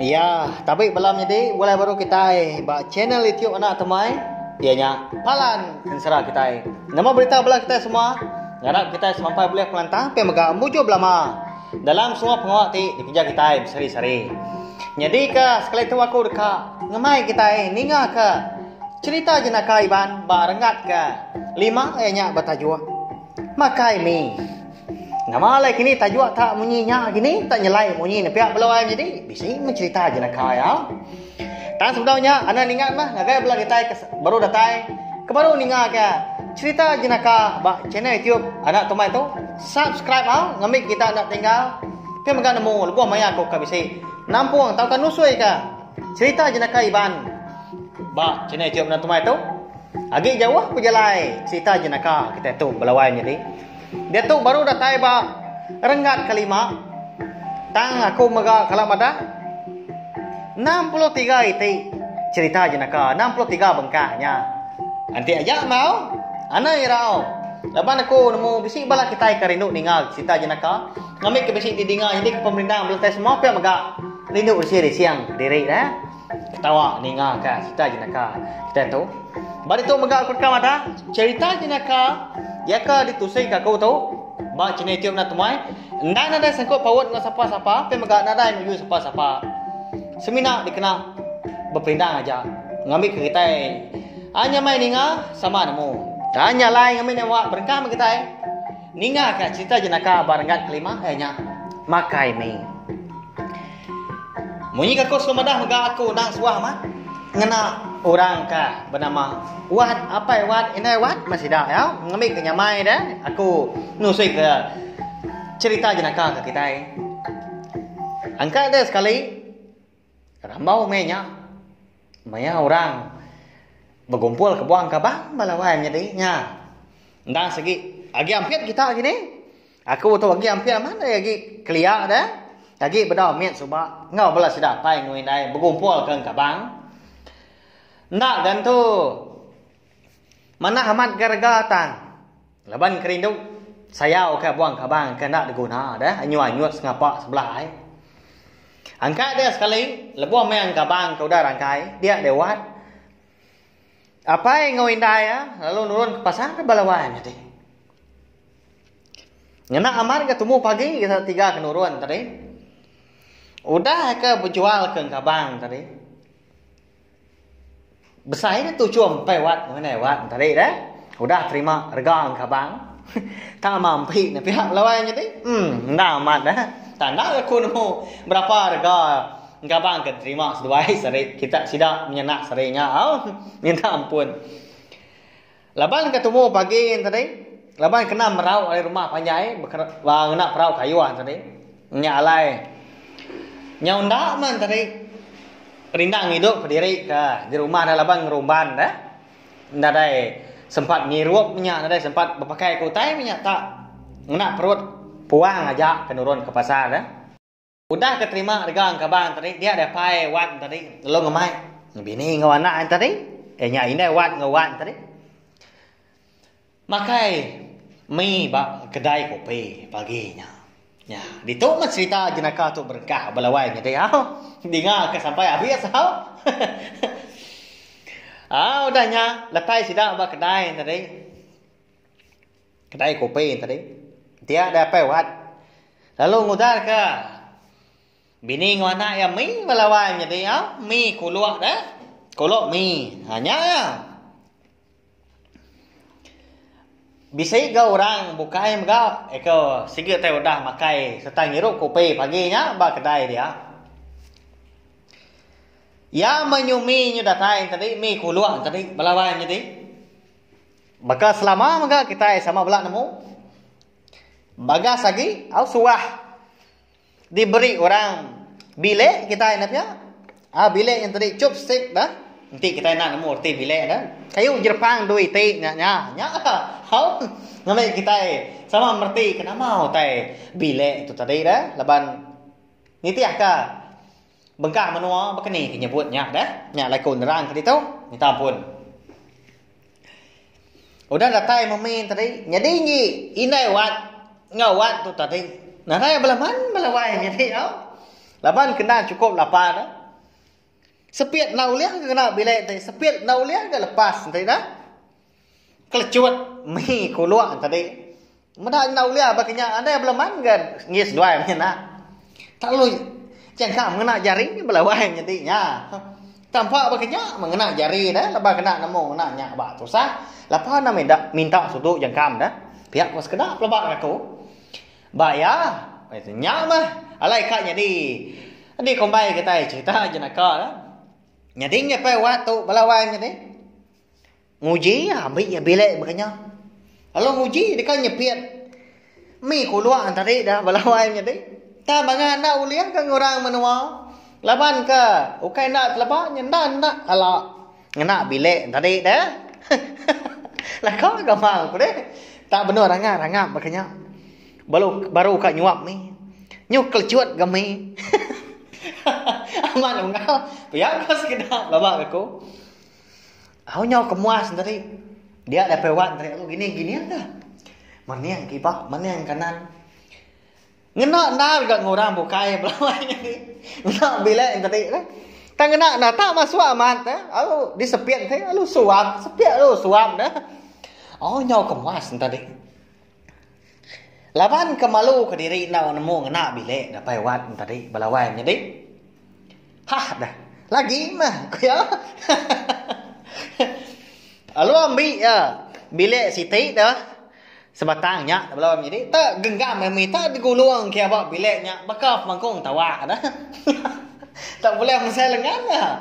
Iya, tabi bala menyadi bulai baru kitai ba channel YouTube anak temai iya nya Palan Ensera kitai. Nama berita bala kitai semua? Ngarap kitai semampai bulih pengelantang pia mega mujur belama dalam semua pengawa ti dikereja kitai sehari-sehari. Nyadi ke sekali tu aku deka ngemai kitai ninga ke cerita jenaka Iban ba renggat ke lima iya nya betajuk Makai Mi. Nama alai kini tajuk tak munyi nya kini tak nyelai munyi ne pia belu ai menyedi. Bisi mencerita je naka ya. Tang sebedau nya anak ningat mah ngagai bela ditai ke baru datai ke baru ninga ke cerita je naka ba channel YouTube anak tumai tu. Subscribe ah ngambi kita anak tinggal. Ke mega nemu lebuh maya aku ke bisi nampung tauka nusui ke cerita je naka Iban ba channel YouTube anak tumai tu. Agi jauh pejalai cerita je naka kita tu belawai menyedi. Diatu baru datai ba renggat kelima, tang aku mega kala madah enam puluh tiga iti cherita jenaka, enam puluh tiga bengkah nya. Enti aja enggau Ana Irau laban aku nemu bisi bala kitai ke rindu ninga cherita jenaka ngambika bisi didinga nyadika pemerindang belentang semua pia mega rindu rising-rising kediri neh. Ketawa ninga ka cerita jenaka kitai tu. Ba ditu mega aku deka madah cerita jenaka iya ke ditusi ka aku tu ba channel YouTube enda temuai. Endang nadai sangkut paut enggau sapa-sapa tapi mega nadai nuju sapa-sapa. Semina dikena bepelindang aja ngambi ke kitai hanya mai ninga sama nemu. Tanya lai ngambi ne muak berengkah meh kitai. Ninga ka cerita jenaka ba renggat kelima eh nya makai mie. Munyi ka aku suah madah mega aku endang suah mah ngena orang ka benama Wat apai Wat indai Wat meh sida iya ngambi ka nyamai deh aku nusui ka cerita jenaka ka kitai angka deh sekali rambau meh nya maya orang begumpul kebuan kaban bala wai menyadi nya endang segi agi ampit kita kini. Aku tu agi ampit amat ai agi kelia deh. Agi bedau mit suba enggau bala sida apai enggau indai begumpulka engkabang. Enda gan tu manah amat ga rega tang laban kerindu sayauka buah engkabang ke enda diguna deh anyut-anyut sengapa sebelah ai. Angkat dia sekali lebuh meh engkabang ke udah rangkai dia deh wat. Apai enggau indai ah lalu nurun ke pasar bala wan ati. Ngena amat ke tumu pagi gasan tiga ke nurun tadi. Udah ke bejual ke engkabang tadi. Besai ne tuchum empai wat enggau enei wat tadi deh. Udah terima rega engkabang. Tama empi ne piak belawai nya ti. Emm enda amat deh. Tang enda ke ku nemu berapa rega engkabang ke diterima seduai seri. Kita sida menyendak seri nya au. Minta ampun. Laban ke tumu pagi tadi, laban kena merau ari rumah panjai ba ngena perau kayuh tadi, nya alai nyau enda man tadi rindang idup kediri ke di rumah ne laban ngerumban ne enda dai sempat ngirup inya enda dai sempat bepakai ke utai inya tak ngena perut puang aja ke nurun ke pasar. Udah ke terima rega enggau kaban tadi dia deh pai wan tadi lalu ngemai bini enggau anak ain tadi eh nya indai wan enggau wan tadi makai mi ba kedai kopi pagi nya. Nya ditu mah serita jenaka tu berengkah ba lawan nya deh au dinga ke sampai habis au. Au udah nya letai sida ba kedai tadi. Kedai kopi tadi dia deh apai wat lalu ngudah ka bini enggau anak iya mih meh lawan nyadi iya mih kuluk deh kuluk mih ha nya iya bisi ga orang bukai mega iko sigi tai udah makai serta ngirup kopi pagi nya ba kedai dia iya menyumi nyu datai tadi mih kuluk tadi belawan nyadi. Baka selama mega kitai sama bela nemu bagas agi au suah diberi orang bilik kitai enda pia au bilik nyen tadi chup sik dah enti kitai enda nemu reti bilik dah kayu jerepang dui ti nya nya nya au ngambi kitai sama mereti ke nama utai bilik tu tadi dah laban nitihka. Bengkah menua bekeni ke nyebut nya deh. Nya alai ku nerang ke ditu. Minta ampun. Udah datai memi tadi nyadi enggi indai wat enggau wat tu tadi. Nadai belaman belawai nyadi au. Laban kena chukup lapa deh. Sepit enda ulih ke kena bilik ti. Sepit enda ulih ke lepas enti deh. Kelecut mih kuluk tadi. Meda nyenda ulih baka nya nadai bala man ga enggi seduai mih enda. Tak lalu jangka mengena jari bala wai nyadi nya. Tampa baka nya mengena jari dah laban kena nemu ngena nya ba tusah. Lapa enda meda minta sudu jangka meda. Pia ko sekeda pelaba laban aku. Ba iya nya mah alai ka nyadi dikumbai kitai cerita jenaka. Nyadi ngepai wak tu bala wai nyadi. Nguji iya ambi iya bilik baka nya. Lalu nguji deka nyepit mi kuluk nang tadi dah bala wai nyadi. Tang bangah enda ulih ka ngurang menua laban ka ukai enda teleba nya enda enda ala ngena bilik nang tadi deh. Laka ga mang ku deh. Tang benung rangap rangap baka nya. Baru baru ka nyuap mi. Nyu kelecut ga mi. Amat unggal pia ka sekeda belabak aku. Au nyau ke muas enteri. Dia datai wak enteri aku gini gini ka. Mening ke iba, mening ke anan. Ngena endar ga enggau orang bukai belawai nyadi. Ngena bilek enteri tu. Tang ngena enda ta masuk amat tu. Au disepit enteri lalu suap, sepit lalu suap neh. Au nyau ke muas enteri. Laban ke malu ke diri enda nemu ngena bilik dapai wat nya tadi bala wai nyadi hah dah lagi meh ku iya heheheh lalu ambi iya bilik siti dah sebatang nya bala wai menyadi enda genggam lalu mita digulung ke aba bilik nya baka pemangkung tawa dah heheheh enda buleh mesai lengan dah.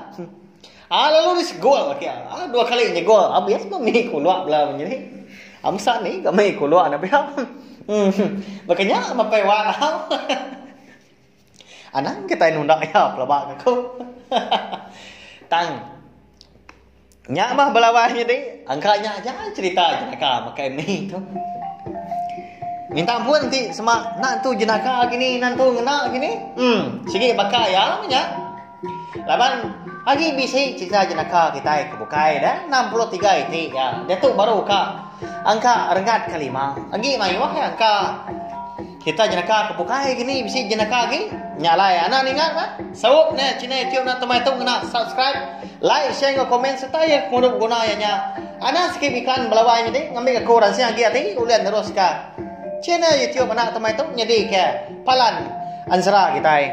Ah lalu ris gol ba kia. Ah dua kali nya gol. Ah bias ba mih kulak bela meh nya. Ah mesa ni ga mih kulak na pia. Hmm. Baka nya mapai wak tau. Anang kitai nunda iya pelaba ke aku. Tang nya mah belawan nya deh. Angka nya aja cerita jenaka makai mih tu. Minta ampun ti sema nan tu jenaka gini nan tu ngena gini. Hmm. Sigi baka iya meh nya. Laban agi bisi cerita jenaka kitai ke bukai dah 63 iti ya. Diatu baru ka angka renggat ke lima. Agi mayuh ya angka kita jenaka ke bukai gini bisi jenaka agi. Nya alai anak ninga kan. Saup ne china YouTube nak temai tu ngena subscribe, like, share enggau komen serta ya kemuru guna ya nya. Anak sikit iklan belawai nyadi ngambil aku ransing agi ati ulih neruska channel YouTube anak temai tu nyadi ke palan anzra kitai.